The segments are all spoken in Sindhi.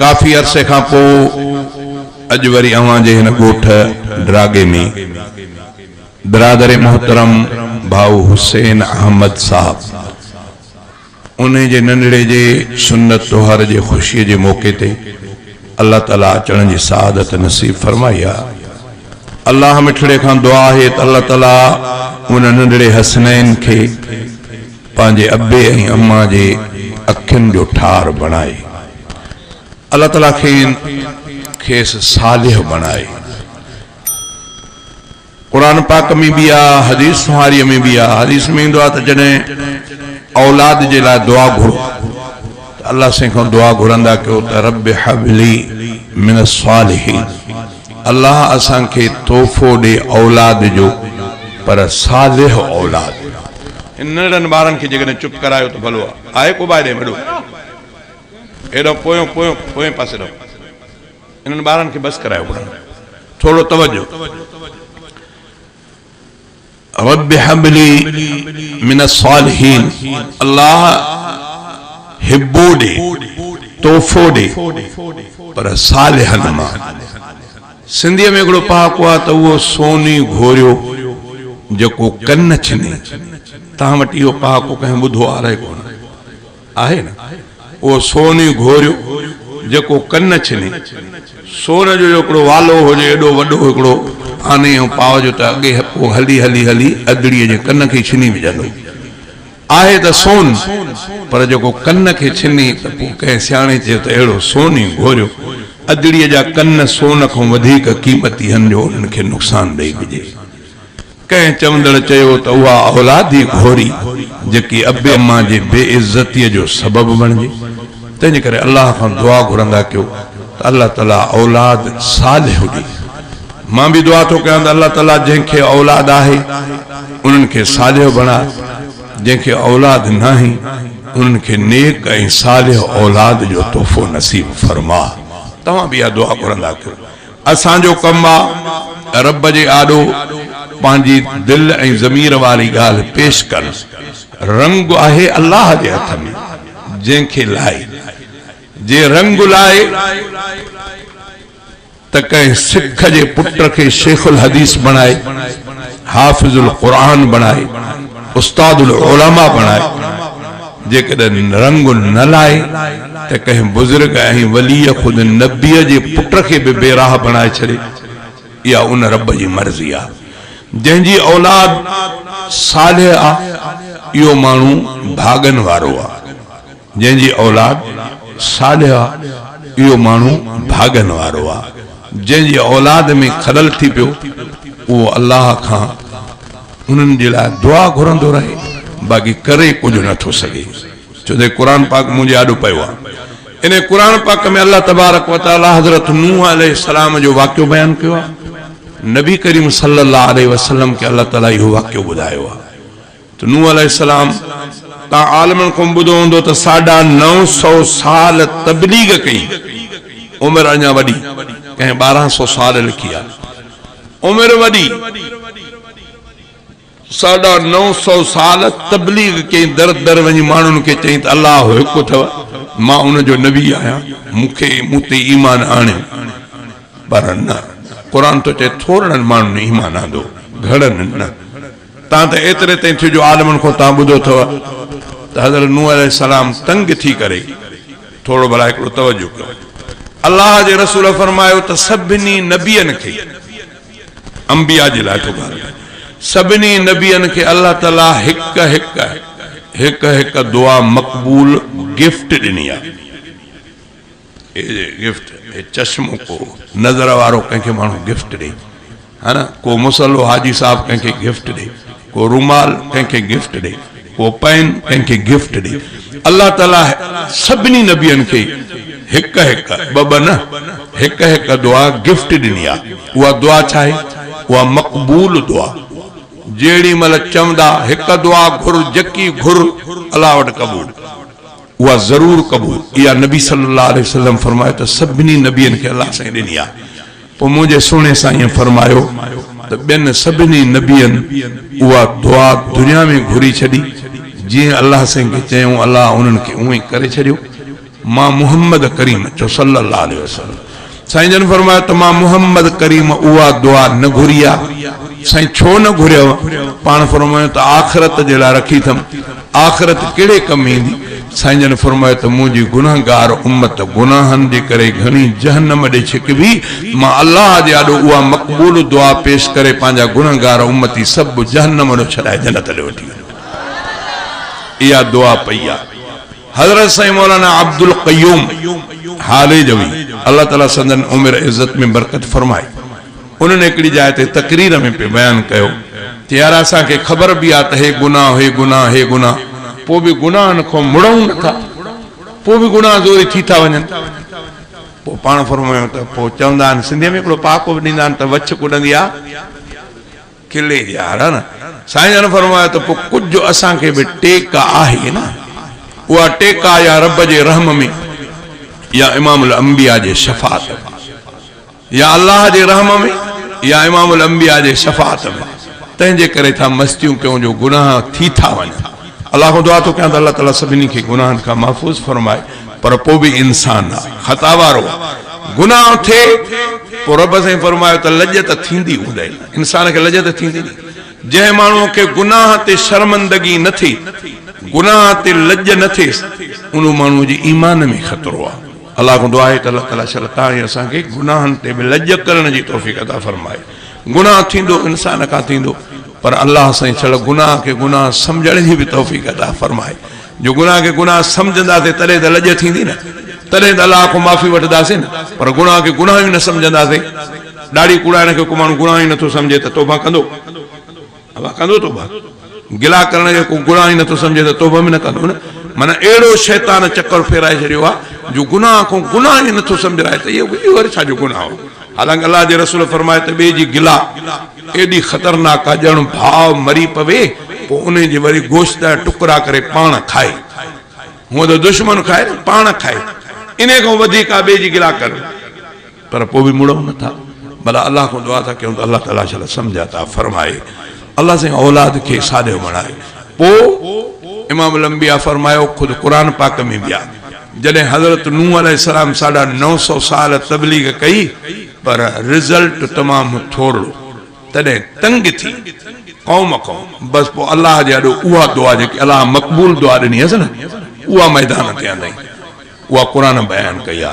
ڪافي عرصي کان پوء اڄ وري اوهان جي هن ڳوٺ ڊراگي ۾ برادر محترم ڀائو حسين احمد صاحب انهي جي ننڍڙي جي سنت طهر جي خوشي جي موقعي تي الله تعالي اچڻ جي سعادت نصيب فرمائي آ الله مٺڙي کان دعا آهي ته الله تعالي ان ننڍڙي حسنين کي پنهنجي ابي ۽ اما جي اکين جو ٺار بڻائي الله تعالي کين کيس صالح بڻائي قرآن پاڪ ۾ به آ حديث سونهاري ۾ به آ حديث ۾ ايندو آ ته جڏهن اولاد جي لاء دعا گهرو ته الله سائين کان دعا گهرندا ڪيو ته رب حبلي من الصالحين الله اسان کي تحفو ڏي اولاد جو پر صالح اولاد. هن ننڍڙن ٻارن کي جيڪڏهن چپ ڪرايو ته ڀلو آ آهي ڪو باهه ڏي وڏو هيڏانهن پويون پويون پوئين پاسي رهو انهن ٻارن کي بس ڪرايو پڙهڻ ٿورڙو توجه. رب هب لي من الصالحين الله هبو ڏي، تحفو ڏي، پر صالحن مان. سنڌيء ۾ هڪڙو پهاڪو آهي ته اهو سوني گهوريو جيڪو ڪن ڇني. توهان وٽ اهو پهاڪو ڪنهن ٻڌو آهي ڪونه. آهي نه اهو سون ئي گهوريو جيڪو ڪن ڇني. سون جو هڪڙو والو هجي ايڏو وڏو هڪڙو آني ۽ پاء جو ته اڳي هپو هلي هلي هلي اڌڙيء جي ڪن کي ئي ڇني وجهندو. آهي ته سون پر جيڪو ڪن کي ڇني ته پوء ڪنهن سياڻي چيو ته اهڙو سون ئي گهوريو. اڌڙيء جا ڪن سون کان وڌيڪ قيمتي هن جو انهن کي نقصان ڏئي ڏجي. ڪنهن چوندڙ چيو ته اها اولادي گهوري جيڪي ابي امان جي بي عزتي جو سبب بڻجي تنهنجي ڪري الله کان دعا گهرندا ڪيو ته الله تعالي اولاد صالح ڏي مان به دعا ٿو ڪيان ته الله تعالي جنهن کي اولاد آهي انهن کي صالح بڻاء جنهن کي اولاد ناهي انهن کي نيڪ ۽ صالح اولاد جو تحفو نصيب فرماء توهان به اها دعا گهرندا ڪيو اسان جو ڪم آ رب جي آڏو پنهنجي دل ۽ ضمير واري ڳالهه پيش ڪرڻ. رنگ آهي الله جي هٿ ۾ جنهن کي لائي. جي رنگ لائي ته ڪنهن سک جي پٽ کي شيخ الحديث بڻائي، حافظ القرآن بڻائي، استاد العلماء بڻائي. جيڪڏهن رنگ نه لاهي ته ڪنهن بزرگ ۽ وليء خود نبيء جي پٽ کي به بي راهه بڻائي ڇڏي، اها ان رب جي مرضي آهي، جنهن جي اولاد صالح آهي، اهو ماڻهو ڀاڳن وارو آهي، جنهن جي اولاد صالح آهي، اهو ماڻهو ڀاڳن وارو آهي، جنهن جي اولاد ۾ خلل ٿي پيو، اهو الله کان. انهن جي لاء دعا گهرندو رهي باقي ڪري ڪجهه نه ٿو سگهي ڇو ته قرآن پاڪ منهنجي آڏو پيو آهي انهي قرآن پاڪ ۾ الله تبارڪ وتعالي حضرت نوح عليه السلام جو واقعو بيان ڪيو آهي نبي ڪريم صلي الله عليه وسلم کي الله تعالي اهو واقعو ٻڌايو آهي ته نوح عليه السلام تان عالمن کان ٻڌو هوندو ته ساڍا نو سو سال تبليغ ڪئي عمر اڃا وڏي ڪنهن ٻارهن سو سال لکي آهي عمر وڏي، ساڍا نو سؤ سال تبليغ ڪئي، در در وڃي ماڻهن کي چئي ته الله هڪ اٿو، مان ان جو نبي آهيان، مون کي مون تي ايمان آڻيو، پر نه، قرآن ٿو چئي ٿورڙن ماڻهن ايمان آندو، گهڻن نه، تان ته ايتري تائين ٿيو جو عالمن کان تان ٻڌو اٿو ته حضرت نوح عليه السلام تنگ ٿي ڪري، ٿورو ڀلا هڪڙو توجه ڪيو الله جي رسول فرمايو ته سڀني نبين کي انبياء جي لاء ٿو ڳالهايان سڀني نبين کي الله تعالي هڪ هڪ هڪ هڪ دعا مقبول گفٽ ڏني آ اي گفٽ اي چشمو ڪو نظر وارو ڪنهن کي ماڻهو گفٽ ڏي ها نه ڪو مصلو حاجي صاحب ڪنهن کي گفٽ ڏي ڪو رومال ڪنهن کي گفٽ ڏي ڪو پين ڪنهن کي گفٽ ڏي الله تعالي سڀني نبين کي هڪ هڪ ٻه ٻه نه هڪ هڪ دعا گفٽ ڏني آ اها دعا ڇا آهي اها مقبول دعا جهڙي مهل چوندا هڪ دعا گهر جڪي گهر الله وٽ قبول اها ضرور قبول اها نبي صلي الله عليه وسلم فرمايو ته سڀني نبين کي الله سائين ڏني آ. پوء منهنجي سهڻي سائينء فرمايو ته ٻين سڀني نبين اها دعا دنيا ۾ گهري ڇڏي، جيئن الله سائين کي چيائون، الله انهن کي اونئين ڪري ڇڏيو. مان محمد ڪريم چو صلّي الله عليه وسلّم. سائين جن فرمايو ته مان محمد ڪريم اها دعا نه گهري آ. سائين ڇو نه گهريو؟ پاڻ فرمايو ته آخرت جي لاء رکي ٿم. آخرت ڪهڙي ڪم ايندي؟ سائين جن فرمايو ته منهنجي گنهگار امت گناهن جي ڪري گهڻي جهنم ڏي ڇڪبي، مان الله جي آڏو اها مقبول دعا پيش ڪري پنهنجا گنهگار امتي سڀ جهنم ڏو ڇڏائي جنت ڏي وٺي وڃو. اها دعا پئي آ. حضرت سائين مولانا عبدالقيوم هاليجوي الله تعالي سندن عمر عزت ۾ برڪت فرمائي. انهن هڪڙي جاء تي تقرير ۾ پي بيان ڪيو ته يار اسان کي خبر به آ ته هي گناهه هي گناهه هي گناهه پو به گناهن کون مڙئون نه ٿا پو به گناهه زوري ٿي ٿا وڃن پو پاڻ فرمايو ته پو چوندا آهن سنڌي ۾ هڪڙو پهاڪو به ڏيندا آهن ته وڇ ڪڏندي آ ڪلي جي آهر ها نه سائين جن فرمايو ته پو ڪجهه اسان کي به ٽيڪ آهي نه اها ٽيڪ آ يا رب جي رحم ۾ يا امام الانبياء جي شفاعت ۾. يا الله جي رحم ۾ يا امام الانبياء جي شفاعت ۾ تنهن جي ڪري ٿا مستيون ڪيون جو گناهه ٿي ٿا وڃن الله کان دعا ٿو ڪيان ته الله تعالي سڀني کي گناهن کان محفوظ فرمائي پر پوء به انسان خطا وارو آهي گناهه ٿئي پوء رب سائين فرمايو ته لڄ ته ٿيندي هوندئي نه انسان کي لڄ ته ٿيندي نه جنهن ماڻهو کي گناهه تي شرمندگي نه ٿئي گناهه تي لڄ نه ٿئيس ان ماڻهو جي ايمان ۾ خطرو آهي الله کان دعا آهي ته الله تعاليٰ شل تان ۽ اسان کي گناهن تي به لڄ ڪرڻ جي توفيق عطا فرمائي. گناهه ٿيندو انسان کان ٿيندو پر الله سائين شل گناهه کي گناهه سمجهڻ جي به توفيق عطا فرمائي. جو گناهه کي گناهه سمجهنداسين تڏهن ته لڄ ٿيندي نه تڏهن ته الله کان معافي وٺنداسين نه پر گناهه کي گناهه ئي نه سمجهنداسين. ڏاڙهي ڪوڙائڻ کي ڪو ماڻهو گناهه ئي نٿو سمجهي ته توبه ڪندو. اوهان ڪندو توبه؟ گلا ڪرڻ کي ڪو گناهه ئي نٿو سمجهي ته توبه به نه ڪندو نه. معنيٰ اهڙو شيطان چڪر ڦيرائي ڇڏيو آهي جو گناهه کون گناهه ئي نٿو سمجهرائي ته اهو اهو وري ڇا جو گناهه هو. حالانڪه الله جي رسول فرمائي ته ٻئي جي گلا ايڏي خطرناڪ آهي ڄڻ ڀاء مري پوي پوء انهي جي وري گوشت جا ٽڪرا ڪري پاڻ کائي. هونء ته دشمن کائي نه پاڻ کائي. انهي کان وڌيڪ آهي ٻئي جي گلا ڪرڻ. پر پوء به مڙئون نه ٿا ڀلا الله کان دعا ٿا ڪيون ته الله تعاليٰ شل سمجهه عطا فرمائي الله سائين اولاد کي ساڏيو بڻائي پوء امام الانبياء فرمايو خود قرآن پاڪ ۾ به آ جڏهن حضرت نوح عليه السلام ساڍا نو سو سال تبليغ ڪئي پر رزلٽ تمام ٿورڙو تڏهن تنگ ٿي قوم کان بس پوء الله جي آڏو اها دعا جيڪي الله مقبول دعا ڏني هيس نه اها ميدان تي آندائين اها قرآن بيان ڪئي آ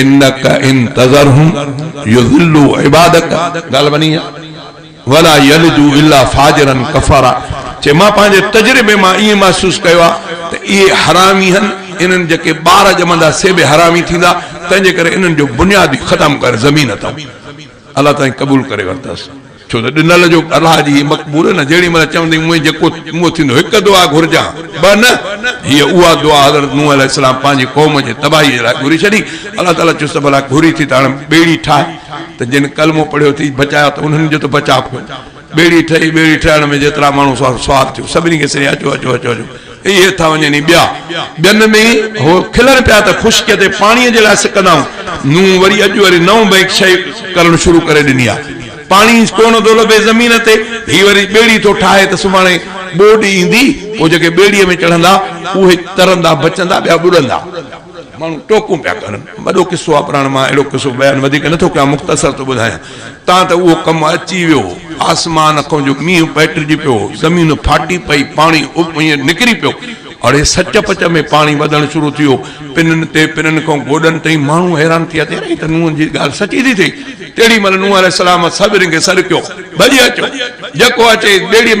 انک ان تذرهم يضلو عبادک ڳالھ ٻنھي آ ولا يلدو الا فاجرا ڪفارا چي مان پنھنجي تجربي مان ائين محسوس ڪيو آ ته اھي حرامي ھن انھن جيڪي ٻار ڄمندا سي به حرامي ٿيندا تنھنجي ڪري انھن جو بنياد ئي ختم ڪري زمين اتم الله تائين قبول ڪري ورتس، ڇو ته ڏنل جو الله جي هي مقبول نه جهڙي مهل چوندي مون جيڪو مون ٿيندو هڪ دعا گهرجان ٻه نه، هيء اها دعا حضرت نوح عليه السلام پنهنجي قوم جي تباهي جي لاء گهري ڇڏي، الله تعاليٰ چيس ته ڀلا گهري ٿي ته هاڻ ٻيڙي ٺاهه ته جن ڪلمو پڙهيو اٿئي بچايا ته انهن جو ته بچاء ڪونه. ٻيڙي ٺهي، ٻيڙي ٺهڻ ۾ جيترا ماڻهو سوار ٿيون، سڀني کي سري اچو اچو اچو اچو، اي هٿان وڃن اي ٻيا. ٻين ۾ ئي هو کلن پيا ته خشڪيء تي پاڻيء جي لاء سڪندائون، نون وري اڄ وري نئون بئنڪ شيء ڪرڻ شروع ڪري ڏني آ. پاڻي ئي ڪونه ٿو لڀي زمين تي، هي وري ٻيڙي ٿو ٺاهي ته سڀاڻي ٻوڏ ايندي، پوء جيڪي ٻيڙيء ۾ چڙهندا، اهي ترندا بچندا، ٻيا ٻڏندا. ماڻهو ٽوڪون پيا ڪن. وڏو قصو آ پراڻ مان اهڙو قصو بيان وڌيڪ نه ٿو ڪيان مختصر ٿو ٻڌايان تان ته اهو ڪم اچي ويو هو. آسمان کان جو مينهن پئٽجي پيو هو زمين ڦاٽي پئي پاڻي اهي نڪري پيو اڙي سچ پچ ۾ پاڻي وڌڻ شروع ٿي ويو پنن تي پنن کان گوڏن تائين ماڻهو حيران ٿي ويا ته يار هي ته نوح جي ڳالهه سچي ٿي ٿئي تيڙي مهل نوح عليه السلام سڀني کي سڏ ڪيو ڀڄي اچو جيڪو اچي ٻيڙي ۾